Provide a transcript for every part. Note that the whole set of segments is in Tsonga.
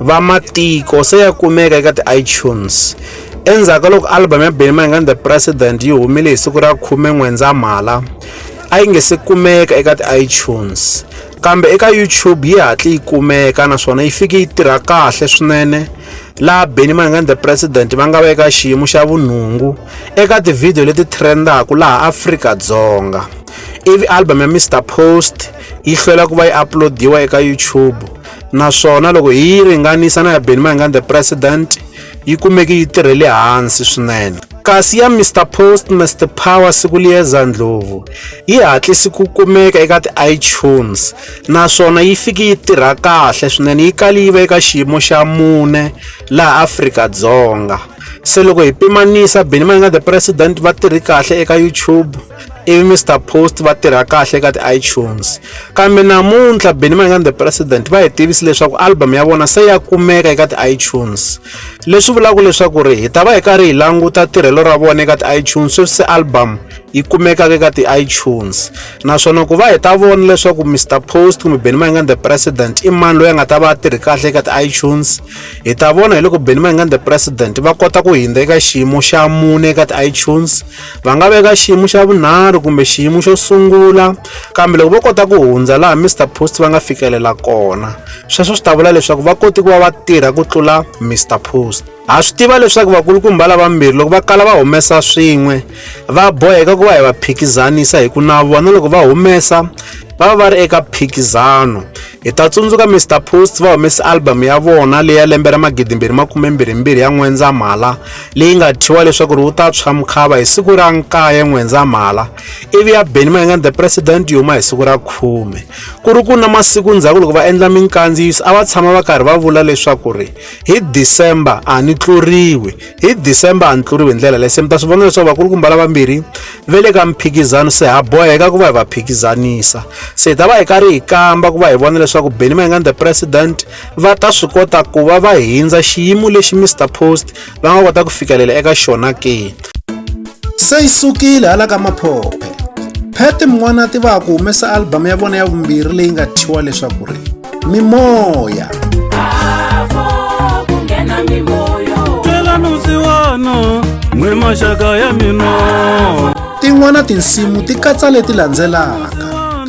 va matiko se ya kumeka eka ti-itunes endzhaku ka loko album ya benny mayengani the president yi humile hi siku ra khume n'wendzamhala a yi nge se kumeka eka ti-itunes kambe eka youtube yi hatli yi kumeka naswona yi fike yi tirha kahle swinene laha benny mayengani the president va nga va eka xiyimo xa vunhungu eka tivhidiyo leti trendaka laha afrika-dzonga ivi album ya mr post yi hlwela ku va yi uploadiwa eka youtube naswona loko hi yi ringanisa na ya Benny Mayengani the President yi kumeke yi tirhele hansi swinene kasi ya Mr Post Mr Power siku liyeza ndlovu yi hatlisi ku kumeka eka ti-iTunes naswona yi fiki yi tirha kahle swinene yi kali yi va eka xiyimo xa mune laha Afrika-Dzonga se loko hi pimanisa Benny Mayengani the President va tirhi kahle eka YouTube ivi mr post va tirha kahle ka ti-itunes kambe namuntlha benny mayengani the president va hi tivisi leswaku album ya vona se ya kumeka eka ti-itunes leswi vulaka leswaku ri hi ta va hi karhi hi languta tirhelo ra vona eka ti-itunes sweswi se album yi kumekaka eka ti-itunes naswona ku va hi ta vona leswaku mr post kumbe benny mayengani the president i mani loyi a nga ta va a tirhi kahle eka ti-itunes hi ta vona hi loko benny mayengani the president va kota ku hindza eka xiyimo xa mune eka ti-itunes va nga veka xiyimo xa vunharhu kumbe xiyimo xo sungula kambe loko vo kota ku hundza laha mr post va nga fikelela kona sweswo swi ta vula leswaku va koti ku va va tirha ku tlula mr post ha swi tiva leswaku vakulukumba lavambirhi loko va kala va humesa swin'we va boheka ku va hi va phikizanisa hi ku na vona loko va humesa va va va ri eka phikizano Hi ta tsundzuka Mister Post va humese album ya vona leyi ya lembe ra magidimbirhi makume mbirhimbirhi ya N'wendzamhala leyi nga thyiwa leswaku ri wu ta tshwa mukhava hi siku ra nkaye N'wendzamhala ivi ya Benny Mayengani the President yi huma hi siku ra khume ku ri ku na masiku ndzhaku loko va endla minkandziyiso a va tshama va karhi va vula leswaku ri hi December a ni tluriwi hi december a ni tluriwi hi ndlela leyi se mi ta swi vona leswaku vakulu kumba lavambirhi ve le ka mphikizano se ha boheka ku va hi va phikizanisa se hi ta va hi karhi hi kamba ku va hi vona leswaku benny mayengani the president va ta swi kota ku va va hindza xiyimo lexi mr post va nga kota ku fikelela eka xona ke Se yi sukile hala ka maphophe. Phete Mwanati va ha ku humesa album ya vona ya vumbirhi leyi nga thyiwa leswaku ri Mimoya. n'we maxaka ya mina tin'wana tinsimu ti katsa leti landzelaka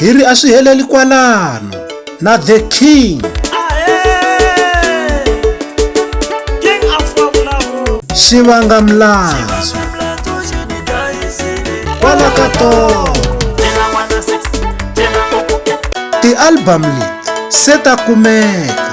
hi ri a swi heleli kwalano na the king xivanga mlandzo kwala ka tolo tialbum leti se ta kumeka